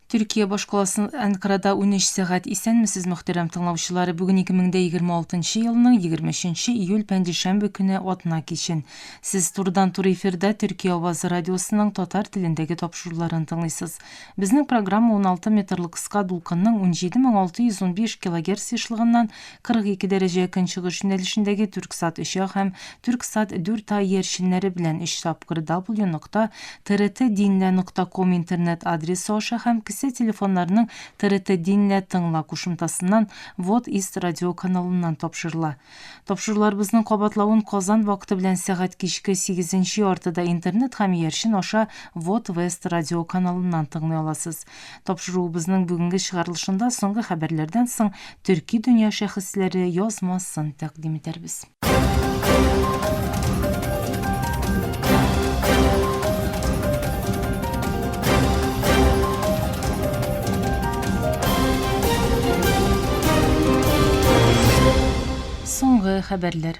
Төркия башкаласы Әнкарада унөч сәгать Исәнмесез, мөхтәрәм тыңлаучылар! Бүген 2026 нчы елның 23 нче июль пәнҗешәмбе көне атна кичен. Сез турыдан-туры эфирда Төркия авазы радиосының татар телендәге тапшыруларын тыңлыйсыз. Безнең программа 16 метрлы кыска дулкынның 17615 килогерц ешлыгыннан 42 дәрәҗә көнчыгыш юнәлешендәге Түрксат 3А һәм Түрксат 4А иярченнәре белән өч тапкыр W нокта TRT Dinle нокта ком интернет адресы аша һәм кесә телефоннарының TRT Dinle тыңла кушымтасыннан Вот Ист радиоканалыннан тапшырыла. Тапшыруларыбызның кабатлавын Казан вакыты белән сәгать кичке сигезенче яртыда интернет һәм иярчен аша Вот Вест радиоканалыннан тыңлый аласыз. Тапшыруыбызның бүгенге чыгарылышында соңгы хәбәрләрдән соң төрки дөнья шәхесләре язмасын тәкъдим итәрбез. Соңгы хәбәрләр.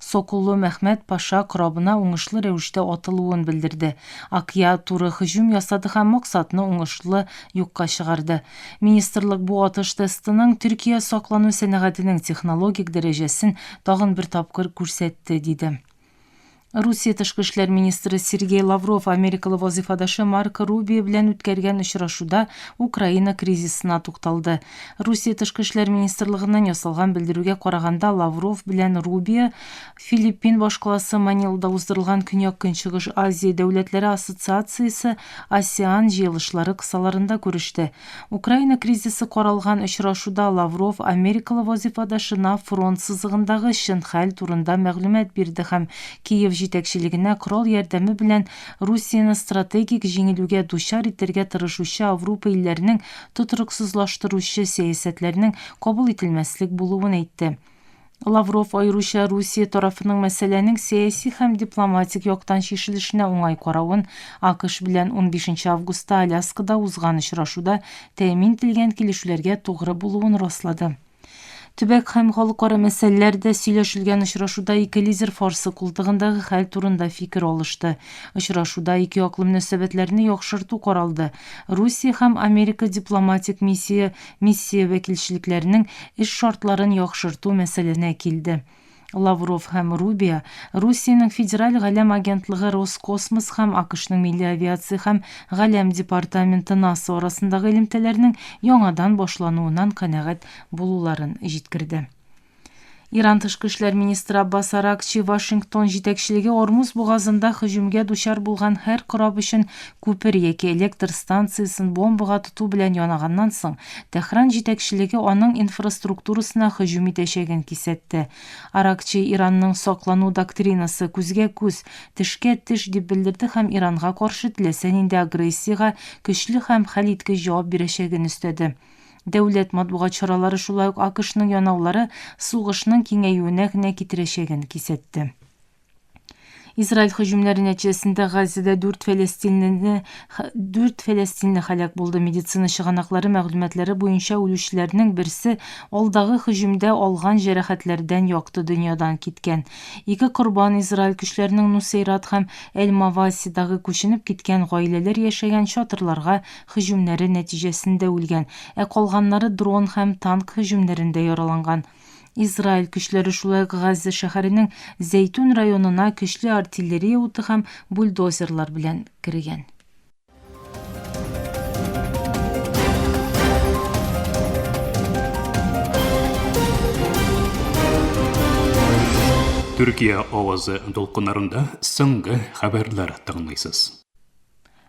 Соколлы Мәхмәт паша корабына уңышлы рәвештә атылуын белдерде. Акъя туры һөҗүм ясады һәм максатны уңышлы юкка чыгарды. Министрлык бу атыш тестының Төркия саклану сәнәгатенең технологик дәрәҗәсен тагын бер тапкыр күрсәтте, диде. Русия тышкы эшләр министры Сергей Лавров америкалы вазыйфадашы Марко Рубио белән үткәргән очрашуда Украина кризисына тукталды. Русия тышкы эшләр министрлыгыннан ясалган белдерүгә караганда, Лавров белән Рубио Филиппин башкаласы Манилада уздырылган Көньяк-Көнчыгыш Азия дәүләтләре ассоциациясе, АСЕАН, җыелышлары кысаларында күреште. Украина кризисы каралган очрашуда Лавров америкалы вазыйфадашына фронт сызыгындагы чын хәл турында мәгълүмат бирде һәм Киев җитәкчелегенә корал ярдәме белән Русияне стратегик җиңелүгә дучар итәргә тырышучы Аврупа илләренең тотрыксызлаштыручы сәясәтләрнең кабул ителмәслек булуын әйтте. Лавров аеруча Русия тарафының мәсьәләнең сәяси һәм дипломатик яктан чишелешенә уңай каравын, АКШ белән 15 августта Аляскада узган очрашуда тәэмин ителгән килешүләргә тугры булуын раслады. Төбәк һәм халыкара мәсьәләләр дә сөйләшелгән очрашуда ике лидер Фарсы култыгындагы хәл турында фикер алышты. Очрашуда ике яклы мөнәсәбәтләрне яхшырту каралды. Русия һәм Америка дипломатик миссия миссия вәкилчелекләренең эш шартларын яхшырту мәсьәләсенә килде. Лавров һәм Рубио Русиянең Федераль галәм агентлыгы Роскосмос һәм АКШның милли авиация һәм галәм департаменты НАСА арасындагы элемтәләрнең яңадан башлануыннан канәгать булуларын җиткерде. Иран тышкы эшләр министры Аббас Аракчи Вашингтон җитәкчелеге Ормуз бугазында һөҗүмгә дучар булган һәр кораб өчен Күпер яки электр станциясен бомбага тоту белән янаганнан соң, Тәһран җитәкчелеге аның инфраструктурасына һөҗүм итәчәген кисәтте. Аракчи Иранның саклану доктринасы, күзгә-күз, тешкә-теш, дип белдерде һәм Иранга каршы теләсә нинди агрессиягә көчле һәм хәлиткеч җавап бирәчәген өстәде. Дәүләт матбугат чаралары шулай ук АКШның янаулары сугышның киңәюенә генә китерәчәген кисәтте. Израиль һөҗүмнәре нәтиҗәсендә Газзада 4 фәләстинле 4 фәләстинле һәлак булды. Медицина чыганаклары мәгълүматлары буенча үлүчеләрнең берсе алдагы һөҗүмдә алган җәрәхәтләрдән якты дөньядан киткән. Ике корбан Израиль көчләренең Нусейрат һәм Эль-Мавасидагы күченеп киткән гаиләләр яшәгән чатырларга һөҗүмнәре нәтиҗәсендә үлгән, ә калганнары дрон һәм танк һөҗүмнәрендә яраланган. Израиль көчләре шулай ук Газза шәһәренең Зәйтүн районына көчле артиллерия уты һәм бульдозерлар белән кергән. Төркия авазы дулкыннарында соңгы хәбәрләр тыңлыйсыз.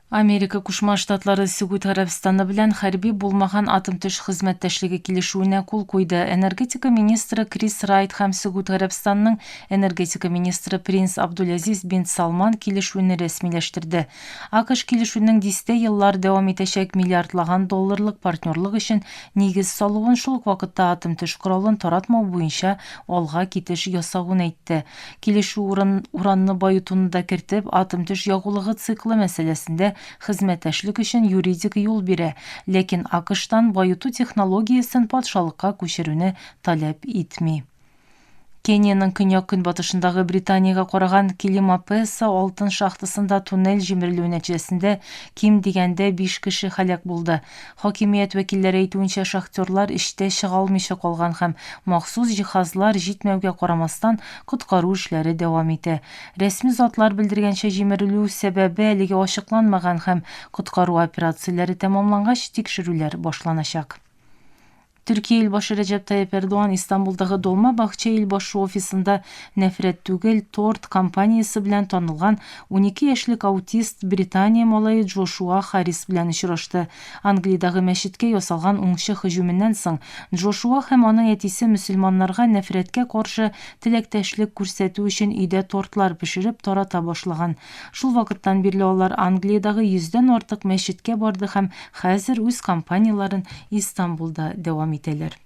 Америка Кушма Штатлары Сөгүд Гарәбстаны белән хәрби булмаган атом-төш хезмәттәшлеге килешүенә кул куйды. Энергетика министры Крис Райт һәм Сөгүд Гарәбстанының энергетика министры Принц Абдулязиз бин Салман килешүне рәсмиләштерде. АКШ килешүнең дистә еллар дәвам итәчәк миллиардлаган долларлык партнерлык өчен нигез салуын, шул ук вакытта атом-төш коралын таратмау буенча алга китеш ясавын әйтте. Килешү урын, уранны баетуны да кертеп, атом-төш ягулыгы циклы мәсьәләсендә хезмәттәшлек өчен юридик юл бирә, ләкин АКШтан баету технологиясен патшалыкка күчерүне таләп итми. Кениянең көньяк-көнбатышындагы Британиягә караган Килимапеса алтын шахтасында туннель җимерелүе нәтиҗәсендә ким дигәндә биш кеше һәлак булды. Хакимият вәкилләре әйтүенчә, шахтерлар эштә чыга алмыйча калган һәм, махсус җиһазлар җитмәүгә карамастан, коткару эшләре дәвам итә. Рәсми затлар белдергәнчә, җимерелү сәбәбе әлегә ачыкланмаган һәм, коткару операцияләре тәмамлангач, тикшерүләр башланачак. Төркия илбашы Рәҗәп Тайип Эрдоган Истанбулдагы Долма Бахче илбашу офисында Нәфрәт түгел, торт компаниясе белән танылган унике яшьлек аутист Британия малае Джошуа Харрис белән очрашты. Англиядагы мәчеткә ясалган уңчы һөҗүменнән соң, Джошуа һәм аның әтисе мөселманнарга нәфрәткә каршы теләктәшлек күрсәтү өчен өйдә тортлар пешереп тарата башлаган. Шул вакыттан бирле алар Англиядагы йөздән артык мәчеткә барды һәм хәзер үз кампанияләрен Истанбулда дәвам итәләр.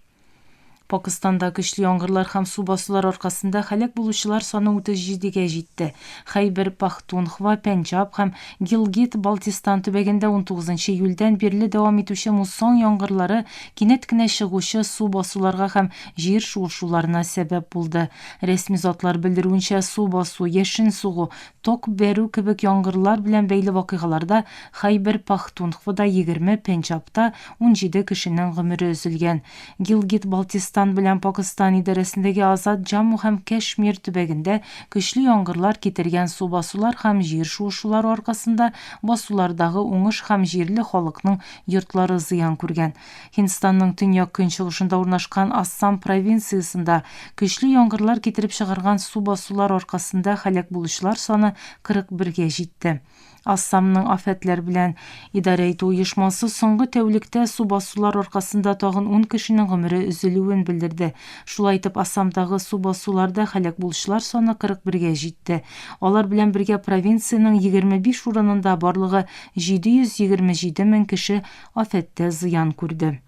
Пакыстанда көчле яңгырлар һәм су басулар аркасында һәлак булучылар саны 37 гә җитте. Хәйбер Пахтунхва, Пенджаб һәм Гилгит-Балтистан төбәгендә 19 июльдән бирле дәвам итүче муссон яңгырлары кинәт кенә чыгучы су басуларга һәм җир шуышуларына сәбәп булды. Рәсми затлар белдерүенчә, су басу, яшен сугу, ток бәрү кебек яңгырлар белән бәйле вакыйгаларда Хәйбер Пахтунхвада егерме, Пенҗабта унҗиде кешенең гомере өзелгән. Гилгит-Балтистан белән Пакыстан идарәсендәге Азат Җамму һәм Кәшмир төбәгендә көчле яңгырлар китергән су басулар һәм җир шуышулары аркасында басулардагы уңыш һәм җирле халыкның йортлары зыян күргән. Һиндстанның төньяк-көнчыгышында урнашкан Ассам провинциясендә көчле яңгырлар китереп чыгарган су басулар аркасында һәлак булучылар саны 41 гә җитте. Ассамның афәтләр белән идарә итү оешмасы соңгы тәүлектә су басулар аркасында тагын ун кешенең гомере өзелүен белдерде. Шулай итеп, Ассамдагы су басуларда һәлак булучылар саны 41 гә җитте. Алар белән бергә провинциянең 25 урынында барлыгы 727 мең кеше афәттә зыян күрде.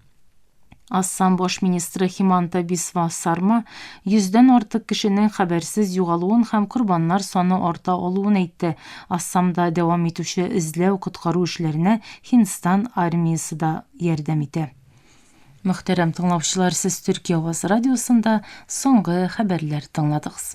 Ассам баш министры Химанта Бисва Сарма йөздән артык кешенең хәбәрсез югалуын һәм корбаннар саны арта алуын әйтте. Ассамда дәвам итүче эзләү-коткару эшләренә Һиндстан армиясе дә ярдәм итә. Мөхтәрәм тыңлаучылар, сез Төркия авазы радиосында соңгы хәбәрләр тыңладыгыз.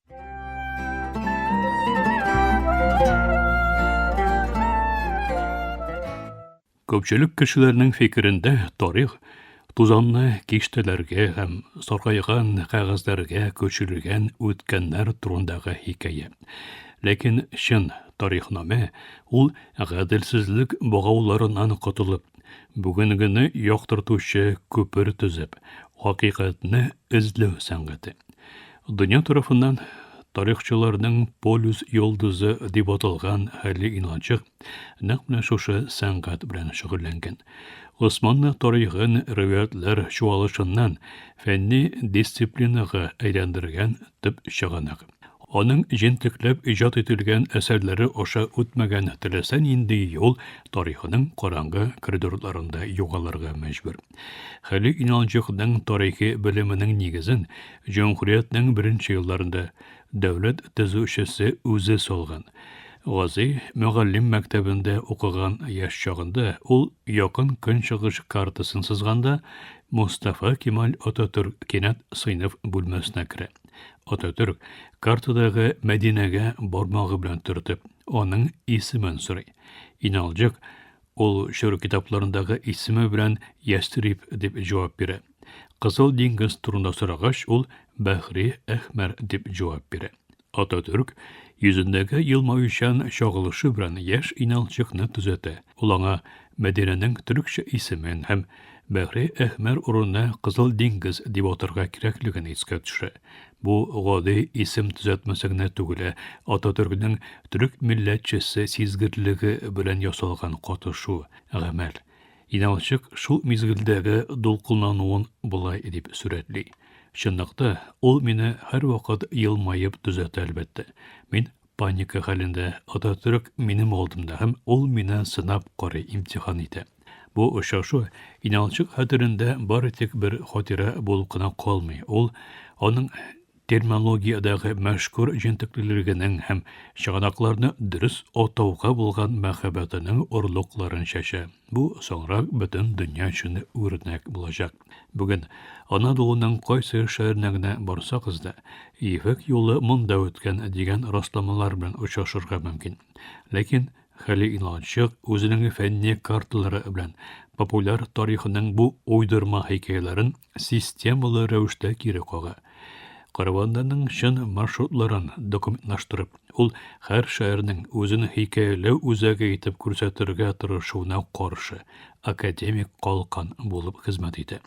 Көпчелек кешеләрнең фикерендә тарих тузанны киштәләргә һәм саргайган кәгазьләргә көчелгән үткәннәр турындагы хикәя. Ләкин чын тарихнамә ул гаделсезлек богауларыннан котылып, бүгенгене яктыртучы күпер төзеп, хакыйкатьне эзләү сәнгате. Дөнья тарафыннан тарихчыларның полюс йолдызы дип аталган хәлле инанчык нәкъ менә шушы сәнгать белән шөгыльләнгән. Госманны тарихын риваятьләр чуалышыннан фәнни дисциплинага әйләндергән төп чыганак. Аның җентекләп иҗат ителгән әсәрләре аша үтмәгән теләсә нинди юл тарихының караңгы коридорларында югалырга мәҗбүр. Хәли Иналҗыкның тарихи белеменең нигезен Җөмһүриятнең беренче елларында дәүләт төзүчесе үзе салган Гази мөгаллим мәктәбендә укыган яшь чагында ул Якын Көнчыгыш картасын сызганда Мустафа Кемаль Ататүрк кинәт сыйныф бүлмәсенә керә. Ататүрк картадагы Мәдинәгә бармагы белән төртеп, аның исемен сорый. Иналҗык Ул чор китапларындагы исеме белән Ястриб дип җавап бирә. Кызыл диңгез турында сорагач, ул Бәхри Әхмәр дип җавап бирә. Ататүрк йөзендәге елмаючан чагылышы белән яшь иналчыкны төзәтә. Ул аңа Мәдинәнең төрекчә исемен һәм Бәхри Әхмәр урынына Кызыл диңгез дип атарга кирәклеген искә төшерә. Бу гади исем төзәтмәсе генә түгел, ә Ататөркнең төрек милләтчесе сизгерлеге белән ясалган катышу, гамәл. Инәлчык шул мизгелдәге дулкынлануын болай дип сурәтли. Чынлыкта, ул мине һәрвакыт елмаеп төзәтә, әлбәттә. Мин Паника хәлендә Ататөрк минем алдымда һәм ул мине сынап карый, имтихан итә. Бу очрашу Иналчык хәтерендә бары тик бер хатирә булып кына калмый, ул аның терминологиядәге мәшһүр җентеклелегенең һәм чыганакларны дөрес атауга булган мәхәббәтенең орлыкларын чәчә. Бу соңрак бөтен дөнья өчен үрнәк булачак. Бүген Анадолуның кайсы шәһәренә генә барсагыз да, Ефәк юлы монда үткән дигән расламалар белән очрашырга мөмкин. Ләкин Хәли Иналчык үзенең фәнни карталары белән популяр тарихының бу уйдырма хикәяләрен системалы рәвештә кире кага. Караваннарның чын маршрутларын документлаштырып, ул һәр шәһәрнең үзен хикәяләү үзәге итеп күрсәтергә тырышуына каршы. академик калкан булып хезмәт итә.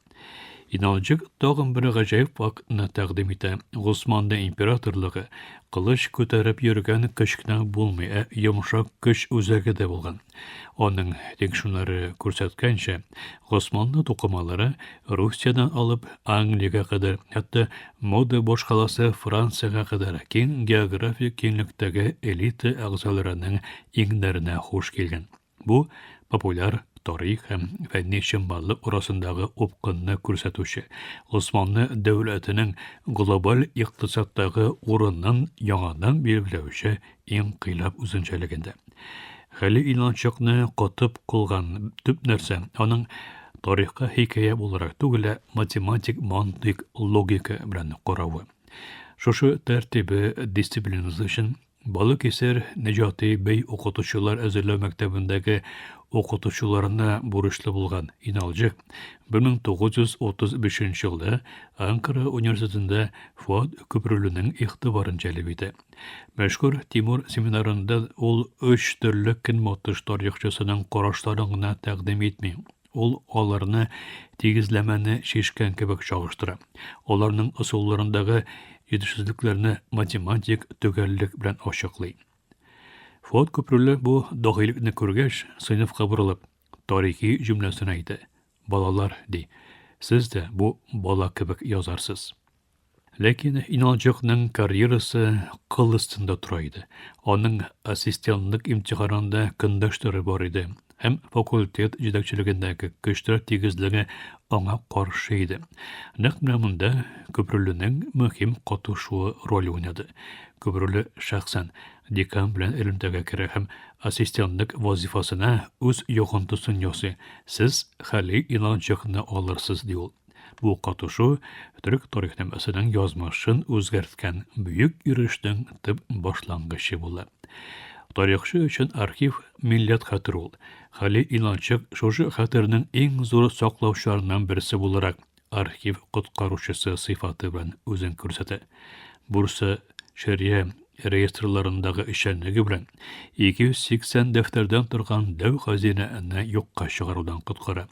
Иналҗык тагын бер гаҗәеп фактны тәкъдим итә. Госманда императорлыгы кылыч күтәреп йөргән көч кенә булмый, ә йомшак көч үзәге дә булган. Аның тикшүнәре күрсәткәнчә, Госманлы тукымалары Русиядән алып Англиягә кадәр, хәтта мода башкаласы Франциягә кадәр киң географик киңлектәге элита әгъзаларының иңнәренә хуш килгән. Бу популяр тарих һәм фәнни чынбарлык арасындагы упкынны күрсәтүче, Госманлы дәүләтенең глобаль икътисадтагы урынын яңадан билгеләүче инкыйлаб үзенчәлегендә. Хәли Иланчыкны котып кылган төп нәрсә, аның тарихка хикәя буларак түгел, ә математик мантыйк логика белән каравы. Шушы тәртибе дисциплинасы өчен Балыкисер Нәҗати бей укытучылар әзерләү мәктәбендәге укытучыларына бурычлы булган Иналҗы 1935 елда Анкара университетында Фуат Көпрүленең игътибарын җәлеп итә. Мәшһүр Тимур семинарында ул өч төрле көнбатыш тарихчысының карашларын гына тәкъдим итми, Ул аларны тигезләмәне шешкән кебек чагыштыра. Аларның ысулларындагы җитешсезлекләрне математик төгәллек белән ачыклый. Фот күпрүле бу дагыйлекне күргәч, сыйныфка борылып, тарихи җөмләсен әйтә. Балалар, ди, сез дә бу бала кебек язарсыз. Ләкин Иналҗыкның карьерасы кыл астында тора иде. Аның ассистентлык имтиханында көндәшләре бар иде һәм факультет җитәкчелегендәге көчләр тигезлеге аңа каршы иде. Нәкъ менә монда Көбрүленең мөһим катышуы роль уйнады. Көбрүле шәхсән декан белән элемтәгә керә һәм ассистентлык вазифасына үз йогынтысын ясый. Сез Хәли Иланчыкны алырсыз, ди ул. Бу катышу төрек тарихнамәсенең язмышын үзгәрткән бөек йөрештең төп башлангычы була. Тарихчы өчен архив милләт хәтер ул. Хәли Иналчык шушы хәтернең иң зур саклаучыларыннан берсе буларак архив коткаручысы сыйфаты белән үзен күрсәтә. Бурса, Шәрия реестрларындагы эшчәнлеге белән 280 дәфтәрдән торган дәү хәзинәне юкка чыгарудан коткара.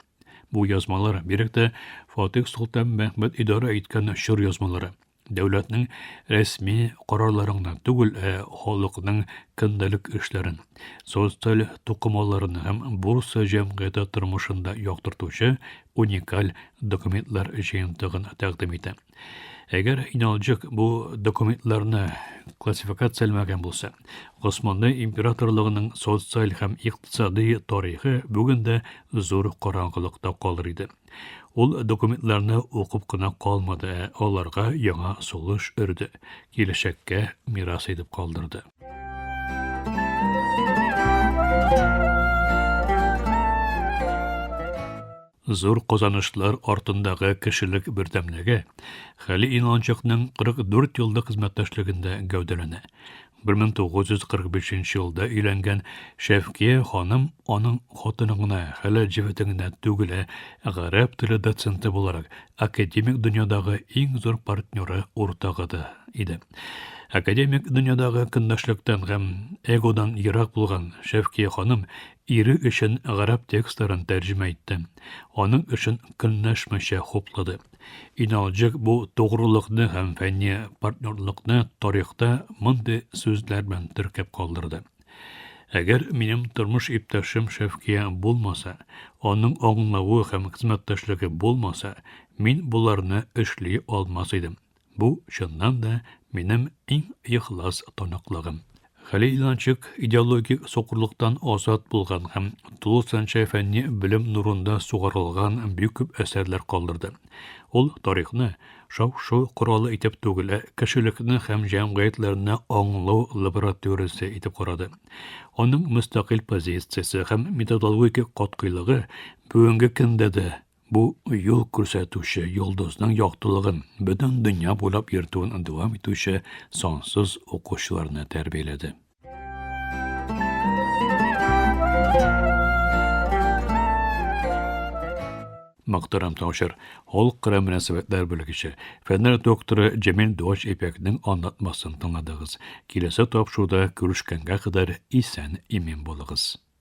Бу язмалар, бигрәк тә Фатих Солтан Мәхмәт идарә иткән чор язмалары, дәүләтнең рәсми карарларыңны түгел, ә халыкның көндәлек эшләрен, социаль тукымаларын һәм бурса җәмгыяте тормышында яктыртучы уникаль документлар җыентыгын тәкъдим итә. Әгәр Иналҗык бу документларны классификацияләмәгән булса, Госманлы императорлыгының социаль һәм икътисади тарихы бүген дә зур караңгылыкта калыр иде. Ул документларны укып кына калмады, ә аларга яңа сулыш өрде, киләчәккә мирас итеп калдырды. Зур казанышлар артындагы кешелек бердәмлеге Хәли Иналанчыкның 44 еллык хезмәттәшлегендә гәүдәләнә. 1945 елда өйләнгән Шәфкия ханым аның хатыны гына хәләл җефете генә түгел, ә гарәп теле доценты буларак академик дөньядагы иң зур партнеры, уртагы да иде. Академик дөньядагы көнләшлектән һәм эгодан ерак булган Шәфкия ханым Ире өчен гарәп текстларын тәрҗемә итте. Аның эшен көнләшмичә хуплады. Иналҗык бу тугрылыкны һәм фәнни партнерлыкны тарихта мондый сүзләр белән теркәп калдырды. Әгәр минем тормыш иптәшем Шәфкия булмаса, аның аңлавы һәм хезмәттәшлеге булмаса, мин боларны эшли алмас идем. Бу, чыннан да, минем иң ихлас таныклыгым. Хәлил Иланчык идеологик сукырлыктан азат булган һәм тулысынча фәнни белем нурында сугарылган бик күп әсәрләр калдырды. Ул тарихны шау-шу коралы итеп түгел, ә кешелекне һәм җәмгыятьләрне аңлау лабораториясе итеп карады. Аның мөстәкыйль позициясе һәм методологик катгыйлыгы бүгенге көндә дә Бу юл күрсәтүче йолдызның яктылыгын бөтен дөнья буйлап йөртүен дәвам итүче сансыз укучыларны тәрбияләде. Мөхтәрәм Таушыр, халык арам мөнәсәбәтләр бүлегече, фәннәр докторы Җәмил Дуач Ипәкнең аңлатмасын тыңладыгыз. Киләсе тапшыруда күрешкәнгә кадәр исән имин булыгыз.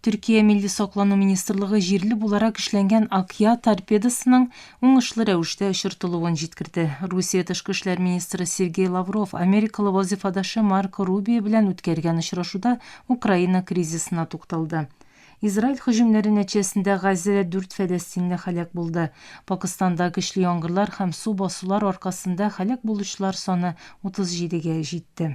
Төркия милли саклану министрлыгы җирле буларак эшләнгән Акъя торпедосының уңышлы рәвештә очыртылуын җиткерде. Русия тышкы эшләр министры Сергей Лавров америкалы вазифадашы Марко Рубио белән үткәргән очрашуда Украина кризисына тукталды. Израиль һөҗүмнәре нәтиҗәсендә Газзәдә дүрт фәләстинле һәлак булды. Пакыстанда көчле яңгырлар һәм су басулар аркасында һәлак булучылар саны 37 гә җитте.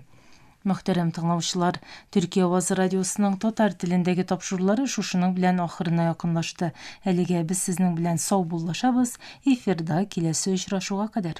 Мөхтәрәм тыңлаучылар, Төрки авазы радиосының татар телендәге тапшырулары шушының белән ахырына якынлашты. Әлегә без сезнең белән саубуллашабыз, эфирда киләсе очрашуга кадәр.